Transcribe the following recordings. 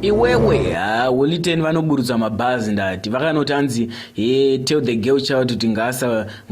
iwewe ha holy ten vanoburutsa mabhazi ndati vakanoti anzi he tell the girl child kuti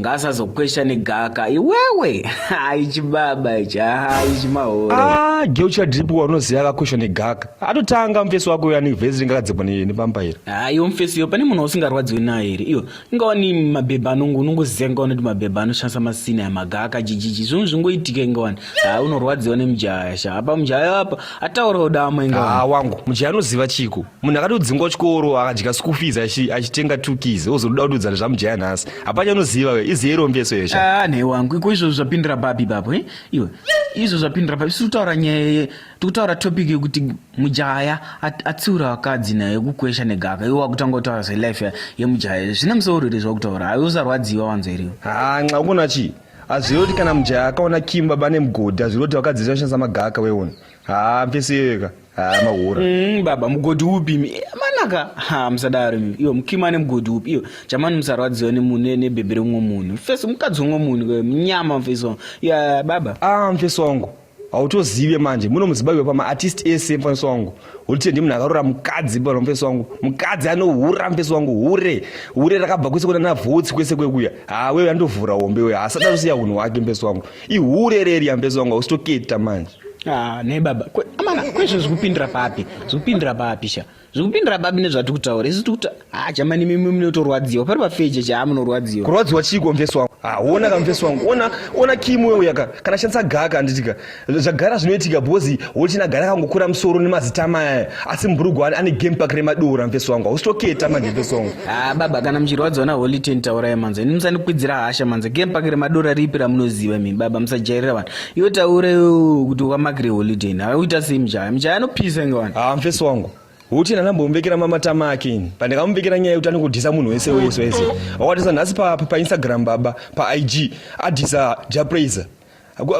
ngaasazokwesha negaka iwewe haichibaba ichi haichimahore ah, girl child ripo waunoziva akakwesha negaka atotanga mufesi wako uyo anevhesi ringakadzikwa nepamba iri ha ah, iwo mufesi iyo pane munhu usingarwadziwe naye here iyo ingawa ni mabhebha anongo unongoziva ingawa noti mabhebha anoshandisa masina yamaga akajijiji zvonhu zvingoitika ingawani haa ah, unorwadziwa nemujaya sha apa mujaya apa ataurawo dama ingawa ah, wangu mujaya anoziva chiko munhu akatodzingwa chikoro akadya school fees achitenga two keys ozoda kududzana zvamujaya nhasi hapanye anoziva we iziye rombeso iyo sha ah, nhai wangu iko izvozvo zvapindira babi bapo eh? iwe izvo zvapindira papi siri kutaura nyaya tikutaura topic yekuti mujaya atsiura vakadzi naye kukwesha negaka iwe wakutanga kutaura zvelife yemujaya zvine musoro here zvakutaura haiwe usarwadziwa wanzwa iriwe hanxa ukona chii hazvirevi kuti kana mujaya akaona kim baba nemugodhi hazvirevi kuti vakadzi vese vanoshandisa magaka weona haa mfesi iyoyoka haa mahura mm, baba mugodhi upi eh, manaka ha musadaro mi iyo mukim ane mugodhi upi iyo chamani musarwadziwa nebhebhi remumwe munhu mfesi mukadzi wemumwe munhu munyama mfesi wangu ya baba a ah, mfesi wangu hautozive manje muno muzimbabwe pama artist ese mufaniso wangu ulitie ndimunhu akarora mukadzi pana mufaniso wangu mukadzi anohura mufaniso wangu hure hure rakabva kwese kunana vhotsi kwese kwekuya haa wewe andovhura hombe wewe haasada kusiya hunhu hwake mufaniso wangu ihure reriya mufaniso wangu hausitoketa manje ah, ne baba amana kwezvo zvekupindira papi zvekupindira papi sha zvikupindira babi nezvatiri kutaura isu tikuti ha jamani mimi munotorwadziwa pari pafeje chaa munorwadziwa kurwadziwa chiiko mfesi wangu ha ona ka mfesi wangu ona ona kimu wewe yaka kana shandisa gaka anditika zvagara zvinoitika bozi wochina gara kangokura musoro nemazita maya asi mburugwa ane game park remadora mfesi wangu hausitoketa manje mfesi wangu ha baba kana muchirwadziwa na holy ten taurai manzo ini musandikwidzira hasha manzo game park remadora ripi ramunoziva mimi baba musajairira vanhu iwe taure kuti wamakire holiday na uita sei mjaya mjaya anopisa inge wani haa ah, mfesi wangu huti ndanambomumbekera mamatama ake ini pandakamumbekera nyaya yekuti anokudhisa munhu wese wese wese wakatisa nhasi painstagram pa baba paig adhisa japraiser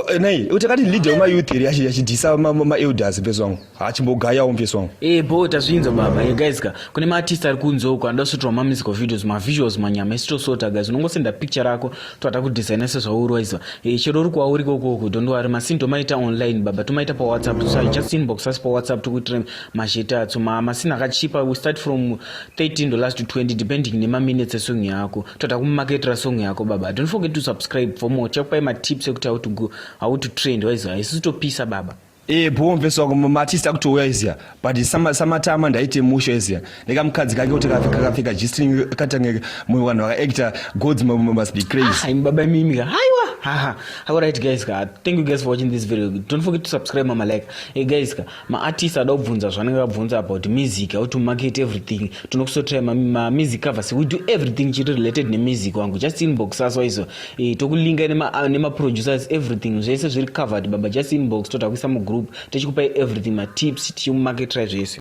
eh, nai utakati leader wemayouth iri achidhisa maelders mfesi wangu hachimbogaya umve song eh bo tazvinza baba eh guys ka kune ma artist ari kunzo uko anoda kusotirwa ma musical videos ma visuals manyama isi tosota guys unongosenda picture rako toata kudesigna sezvaurwaiza eh chero uri kwauri kokoko don't worry masin tomaita online baba tomaita pa whatsapp so just inbox us pa whatsapp tokuitira mashete atso ma masin akachipa we start from 13 dollars to 20 depending nema minutes esong yako toata kumaketera song yako baba don't forget to subscribe for more chakupai ma tips ekuti how to go how to trend waiza isi topisa baba Eh bho mfesi wako matista kutouya izia but sama samatama ndaite musho izia nekamukadzi kake kuti kakapfeka g-string katangeke mumwe vanhu vakaactor gods must be crazy ah, baba imimi ka haiwa haha all right guys ka thank you guys for watching this video don't forget to subscribe mama like hey guys ka maartist ada kubvunza zvanenge vabvunza about music how to market everything tinokusotira mamusic covers we do everything chiri related nemusic wangu just inbox us waizo Eh, tokulinga nema, ah, nema producers everything zvese zviri covered baba just inbox toda kuisa mugroup tichikupai everything matips tichimumarketrai zvese